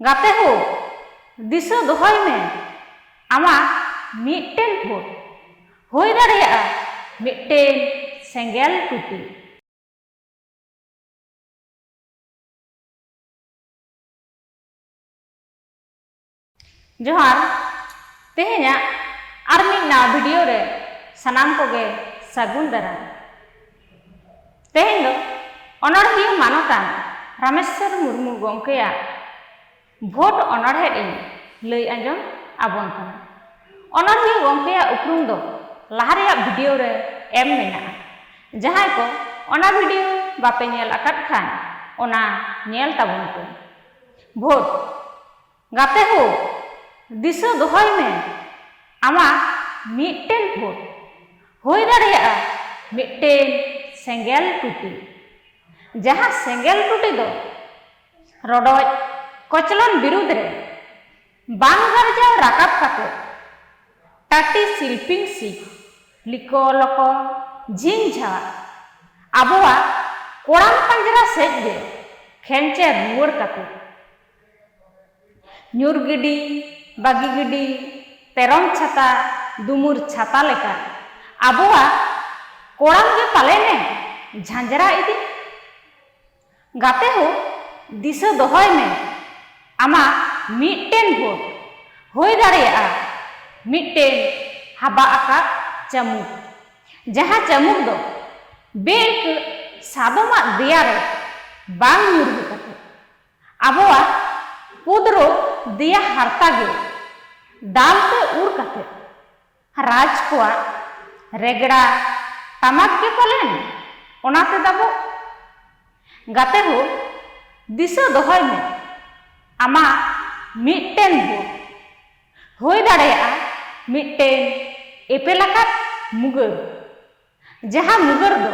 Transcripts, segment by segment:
ᱜᱟᱛᱮ ᱦᱳ, ᱫᱤᱥᱟᱹ ᱫᱚᱦᱚᱭ ᱢᱮ ᱟᱢᱟᱜ ᱢᱤᱫᱴᱮᱱ ᱵᱷᱳᱴ ᱦᱳᱭ ᱫᱟᱲᱮᱭᱟᱜᱼᱟ ᱢᱤᱫᱴᱮᱱ ᱥᱮᱸᱜᱮᱞ ᱴᱩᱴᱤ᱾ ᱡᱚᱦᱟᱨ, ᱛᱮᱦᱮᱧᱟᱜ ᱟᱨ ᱢᱤᱫ ᱱᱟᱣᱟ ᱵᱷᱤᱰᱤᱭᱳ ᱨᱮ ᱥᱟᱱᱟᱢ ᱠᱚᱜᱮ ᱥᱟᱹᱜᱩᱱ ᱫᱟᱨᱟᱢ᱾ ᱛᱮᱦᱮᱧ ᱫᱚ ᱚᱱᱚᱬᱦᱤᱭᱟᱹ ᱢᱟᱱᱚᱛᱟᱱ ᱨᱟᱢᱮᱥᱥᱚᱨ ᱢᱩᱨᱢᱩ ᱜᱚᱢᱠᱮᱭᱟᱜ ᱵᱷᱳᱴ ᱚᱱᱚᱬᱦᱮ ᱤᱧ ᱞᱟᱹᱭ ᱟᱸᱡᱚᱢ ᱟᱵᱚᱱ ᱠᱟᱱᱟ ᱚᱱᱚᱬᱦᱤᱭᱟᱹ ᱜᱚᱢᱠᱮᱭᱟᱜ ᱩᱯᱨᱩᱢ ᱫᱚ ᱞᱟᱦᱟ ᱨᱮᱭᱟᱜ ᱵᱷᱤᱰᱤᱭᱳ ᱨᱮ ᱮᱢ ᱢᱮᱱᱟᱜᱼᱟ ᱡᱟᱦᱟᱸᱭ ᱠᱚ ᱚᱱᱟ ᱵᱷᱤᱰᱤᱭᱳ ᱵᱟᱯᱮ ᱧᱮᱞ ᱟᱠᱟᱫ ᱠᱷᱟᱱ ᱚᱱᱟ ᱧᱮᱞ ᱛᱟᱵᱚᱱ ᱯᱮ ᱵᱷᱳᱴ ᱜᱟᱛᱮ ᱦᱳ, ᱫᱤᱥᱟᱹ ᱫᱚᱦᱚᱭ ᱢᱮ ᱟᱢᱟᱜ ᱢᱤᱫᱴᱮᱱ ᱵᱷᱳᱴ ᱦᱳᱭ ᱫᱟᱲᱮᱭᱟᱜᱼᱟ ᱢᱤᱫᱴᱮᱱ ᱥᱮᱸᱜᱮᱞ ᱴᱩᱴᱤ᱾ ᱡᱟᱦᱟᱸ ᱥᱮᱸᱜᱮᱞ ᱴᱩᱴᱤ ᱫᱚ ᱨᱚᱰᱚᱡ ᱠᱚᱪᱞᱚᱱ ᱵᱤᱨᱩᱫᱷ ᱨᱮ ᱵᱟᱝ ᱜᱟᱨᱡᱟᱣ ᱨᱟᱠᱟᱵ ᱠᱟᱛᱮ ᱴᱟᱴᱤ ᱥᱤᱞᱯᱤᱝ ᱥᱤᱠ ᱞᱤᱠᱚ ᱞᱚᱠᱚ ᱡᱷᱤᱝ ᱡᱷᱟᱜ ᱟᱵᱚᱣᱟᱜ ᱠᱚᱲᱟᱢ ᱯᱟᱸᱡᱽᱨᱟ ᱥᱮᱡ ᱜᱮ ᱠᱷᱮᱱᱪᱮᱨ ᱨᱩᱣᱟᱹᱲ ᱠᱟᱛᱮ᱾ ᱧᱩᱨ ᱜᱤᱰᱤ, ᱵᱟᱹᱜᱤ ᱜᱤᱰᱤ, ᱯᱮᱨᱚᱢ ᱪᱷᱟᱛᱟ, ᱫᱩᱢᱩᱨ ᱪᱷᱟᱛᱟ ᱞᱮᱠᱟ ᱟᱵᱚᱣᱟᱜ ᱠᱚᱲᱟᱢ ᱜᱮ ᱯᱟᱞᱮᱱ ᱮᱢ ᱡᱷᱟᱸᱡᱽᱨᱟ ᱤᱫᱤ? ᱜᱟᱛᱮ ᱦᱳ, ᱫᱤᱥᱟᱹ ᱫᱚᱦᱚᱭ ᱢᱮ ᱟᱢᱟᱜ ᱢᱤᱫᱴᱮᱱ ᱵᱷᱳᱴ ᱦᱳᱭ ᱫᱟᱲᱮᱭᱟᱜᱼᱟ ᱢᱤᱫᱴᱮᱱ ᱦᱟᱵᱟᱜ ᱟᱠᱟᱫ ᱪᱟᱹᱢᱩᱠ᱾ ᱡᱟᱦᱟᱸ ᱪᱟᱹᱢᱩᱠ ᱫᱚ ᱵᱮᱼᱟᱹᱭᱠᱟᱹᱜ ᱥᱟᱫᱚᱢᱟᱜ ᱫᱮᱭᱟ ᱨᱮ ᱵᱟᱝ ᱧᱩᱨᱦᱟᱹ ᱠᱟᱛᱮ ᱟᱵᱚᱣᱟᱜ ᱯᱩᱫᱽᱨᱚ ᱫᱮᱭᱟ ᱦᱟᱨᱛᱟ ᱜᱮ ᱫᱟᱞ ᱛᱮ ᱩᱨ ᱠᱟᱛᱮ ᱨᱟᱡᱽ ᱠᱚᱣᱟᱜ ᱨᱮᱜᱽᱲᱟ ᱴᱟᱢᱟᱠ ᱜᱮ ᱯᱟᱞᱮᱱ ᱚᱱᱟ ᱛᱮ ᱫᱟᱵᱚᱜ᱾ ᱜᱟᱛᱮ ᱦᱳ ᱫᱤᱥᱟᱹ ᱫᱚᱦᱚᱭ ᱢᱮ ᱟᱢᱟᱜ ᱢᱤᱫᱴᱮᱱ ᱵᱷᱳᱴ ᱦᱳᱭ ᱫᱟᱲᱮᱭᱟᱜᱼᱟ ᱢᱤᱫᱴᱮᱱ ᱮᱯᱮᱞ ᱟᱠᱟᱫ ᱢᱩᱜᱟᱹᱨ᱾ ᱡᱟᱦᱟᱸ ᱢᱩᱜᱟᱹᱨ ᱫᱚ᱾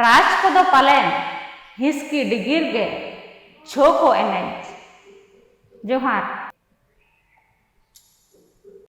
ᱨᱟᱡᱽ ᱠᱚᱫᱚ ᱯᱟᱞᱮᱱ ᱦᱤᱥᱠᱤ ᱰᱤᱜᱤᱨ ᱜᱮ ᱪᱷᱳ ᱠᱚ ᱮᱱᱮᱡ᱾ ᱡᱚᱦᱟᱨ᱾